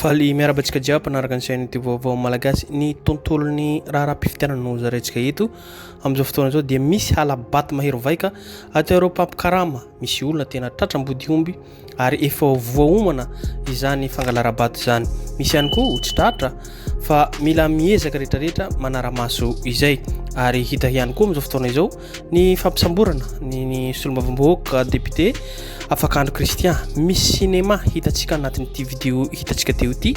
Faly miaraba antsika jiaby mpanaraka ny chaîne ity vaovao malagasy ny tontolon'ny raharaham-pifidianana no zarentsika eto amin'izao fotoana izao dia misy halabato mahery vaika ato ireo mpampikarama misy olona tena tratram-body omby ary efa voaomana izany fangalarabato izany misy ihany koa ho tsy tratra fa mila miezaka rehetrarehetra manara-maso izay ary hita ihany koa amin'izao fotoana izao Ny fampisamborana ny ny solombavambahoaka député Afakandro Christian, misy cinéma hitantsika anatin'ity vidéo hitantsika teo ity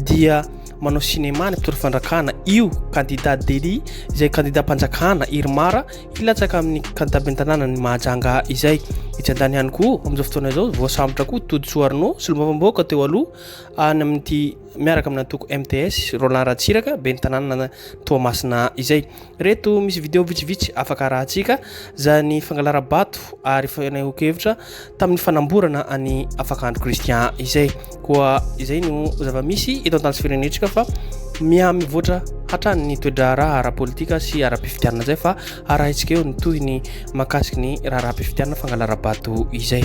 dia manao cinéma ny mpitory fandrakana io candidat Dely izay candidat mpanjakana Irmara hilatsaka amin'ny candidat ben'ny tanàna ny Mahajanga izay etsy an-tany ihany koa amin'izao fotoana izao voasambotra koa Todisoa Arnaud solombavambahoaka teo aloha any amin'ity miaraka amin'ny antoko MTS, Roland Ratsiraka, ben'ny tanàna Toamasina izay. Reto misy vidéo vitsivitsy afaka arahantsika, izany fangalarabato ary fanehoan-kevitra tamin'ny fanamborana an'i Afakandro Christian izay. Koa izay no zava-misy eto an-tany sy firenentsika fa miha mivoatra hatrany ny toe-draharaha ara-politika sy ara-pifidianana izay fa arahintsika eo ny tohiny mahakasiky ny raharaham-pifidianana fangalarabato izay.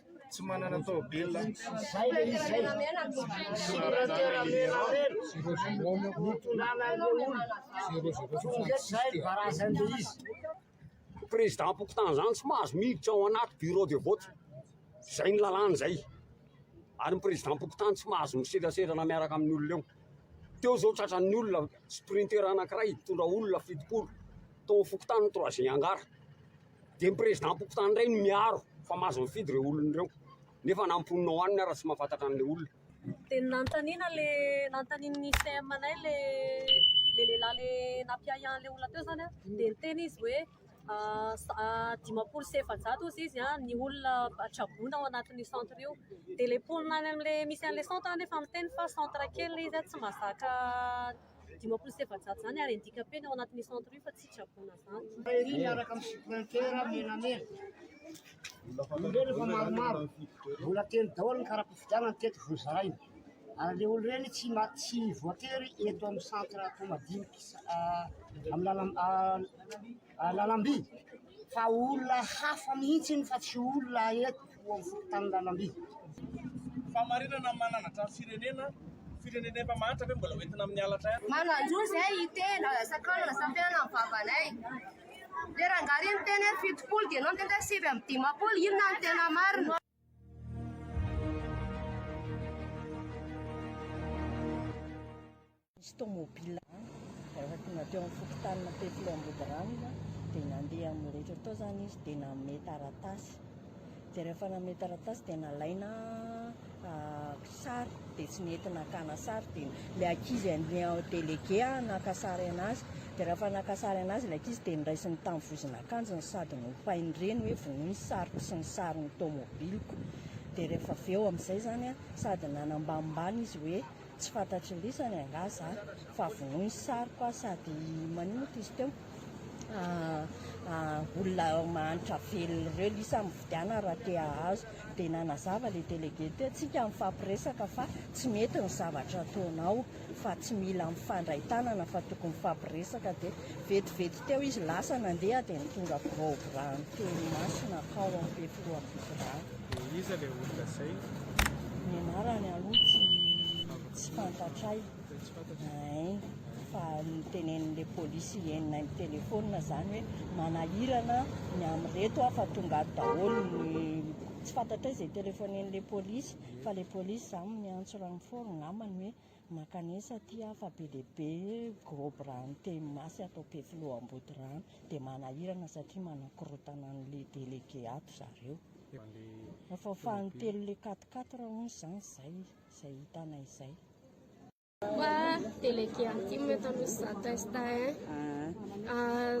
tsy manana taovela président pokontany zany tsy mahazo miditra ao anaty bureau de vote zay ny lalàna zay ary ny président pokontany tsy mahazo miseraserana miaraka amin'ny olona eo teo zao tratran'ny olona sprinter anankiray tondra olona fitopolo tao fokontany troisième angara de ny prezidampokotany ndray no miaro fa mahazo mifidy reo olona reo nefa na amponina ao any ny ara tsy mahafantatra anle olona de ny nanontaniana le nanontanian'ny CM anay le le lehilahy le nampiahiahy anle olona teo zany an de niteny izy hoe dimampolo sy efajato ozy izy an ny olona traboina ao anatin'io centre io de le mponina any amle misy anle centre an efa miteny fa centre kely le izy an tsy mahazaka dimampolo sy efajato izany ary handika-pena ao anatin'io centre io fa tsy traboina izany. Ery miaraka amin'ny suprinter menamena. Ireny efa maromaro. Mbola telo daholo ny kara-pifidianana teto vozaraina. Ary le olo ireny tsy tsy voatery eto amin'ny centre Toamadiniky amin'ny lalam lalamby fa olona hafa mihitsy iny fa tsy olona eto amin'ny fokontany lalamby fahamarinana mananatra ny firenena firenena efa mahantra ve mbola hoentina amin'ny halatra ihany mananjo izay hitena sakanana sampiana amin'ny vavanay le rangahy iny miteny hoe fitopolo dia ianao miteny hoe sivy amby dimampolo inona no tena marina Nisy tômôbila rehefa tonga teo amin'ny fokontanina Peflo Ambodiranona dia nandeha amin'ny rehetra tao izany izy dia nanome taratasy dia rehefa nanome taratasy dia nalaina sary dia tsy nety nakana sary dia ilay ankizy andeha delege naka sary anazy dia rehefa naka sary anazy ilay ankizy dia niraisiny tamin'ny vozon'akanjony sady nopain'ny reny hoe vonoy ny sariko sy ny sarin'ny tômôbiliko dia rehefa avy eo amin'izay izany sady nanambanimbany izy hoe Tsy fantatry ny lisany angaha za fa vonoy ny sariko aho sady manin moa ty izy teo ah, olona mahantra velona ireo lisa mividiana raha te hahazo dia nanazava le délégué teo tsika mifampiresaka fa tsy mety ny zavatra ataonao fa tsy mila mifandray tanana fa tokony mifampiresaka dia vetivety teo izy lasa nandeha dia ny tonga biraobirano teny masina akao amin'ny be filoha biraha Dia iza ilay olona zay? Ny anarany aloha tsy tsy fantatray. Hein, fa nitenenin'ilay polisy enina amin'ny telefaonina zany hoe manahirana ny amin'ireto aho fa tonga ato daholo ny tsy fantatray izay telefonen'ilay polisy fa ilay polisy zany miantso renfort angambany hoe mankanesa aty aho fa be dia be gros bras niteny masy ato Ampefiloha Ambodirano dia manahirana satria manakorotana an'ilay délégué ato zareo. Efa fahan'ny telo le quatre quatre raha hono zany zay zay hitanay zay. Fa délégué intime eto Anosy Zatesta hein. Ah,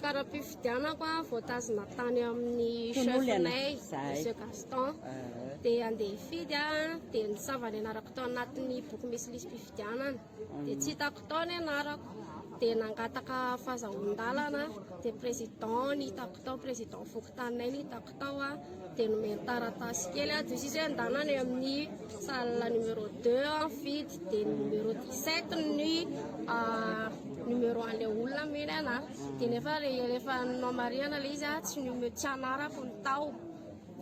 kara-pifidianako ah, voatazona tany amin'ny chef-nay, Monsieur Gaston. Dia andeha hifidy ah, dia nisava ny anarako tao anatin'ny boky misy lisi-pifidianana. Dia tsy hitako tao ny anarako. Dia nangataka fahazahoan-dalana aho. Dia président ny hitako tao, président fokontaninay ny hitako tao aho. Dia nomeny taratasy kely aho. Dia sisa hoe ndana any amin'ny salle numéro 2 aho nifidy. Dia ny numéro 17 ny ah, numéro an'ilay olona nomeny anahy. Dia nefa re- rehefa nomarihana ilay izy ah, tsy nume- tsy anarako no tao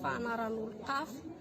fa anaran'olon-kafa.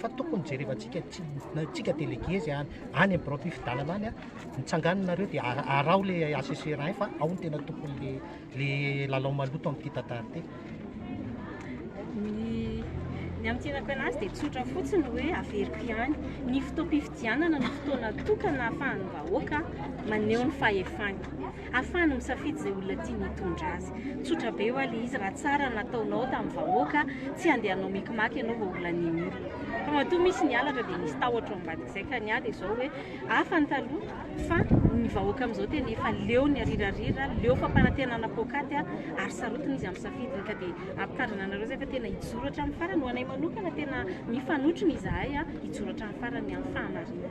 fa tokony jerevantsika tsika délégué zay any any am birao fifidanana any a mitsangananareo dia araho le assesseur any fa ao ny tena tokony le le lalao maloto amin'ity tantara ity ny amintinako anazy dia tsotra fotsiny hoe averiko ihany ny fotoam-pifidianana ny fotoana tokana ahafahan'ny vahoaka maneho ny fahefany Ahafahany misafidy izay olona tiany hitondra azy. Tsotra be wa le izy raha tsara nataonao tamin'ny vahoaka, tsy handeha hanao mikimaky ianao vao ho lanian'ila. Fa matoa misy ny halatra dia misy tahotra ao ambadik'izay ka ny ahy dia izao hoe hafa ny taloha fa ny vahoaka amin'izao tena efa leo ny arirarira, leo fampanantenana poakaty ary sarotiny izy amin'ny safidiny ka dia ampitandrina anareo izay fa tena hijoro hatramin'ny farany. Ho anay manokana tena mifanotrona izahay hijoro hatramin'ny farany amin'ny fahamarinana.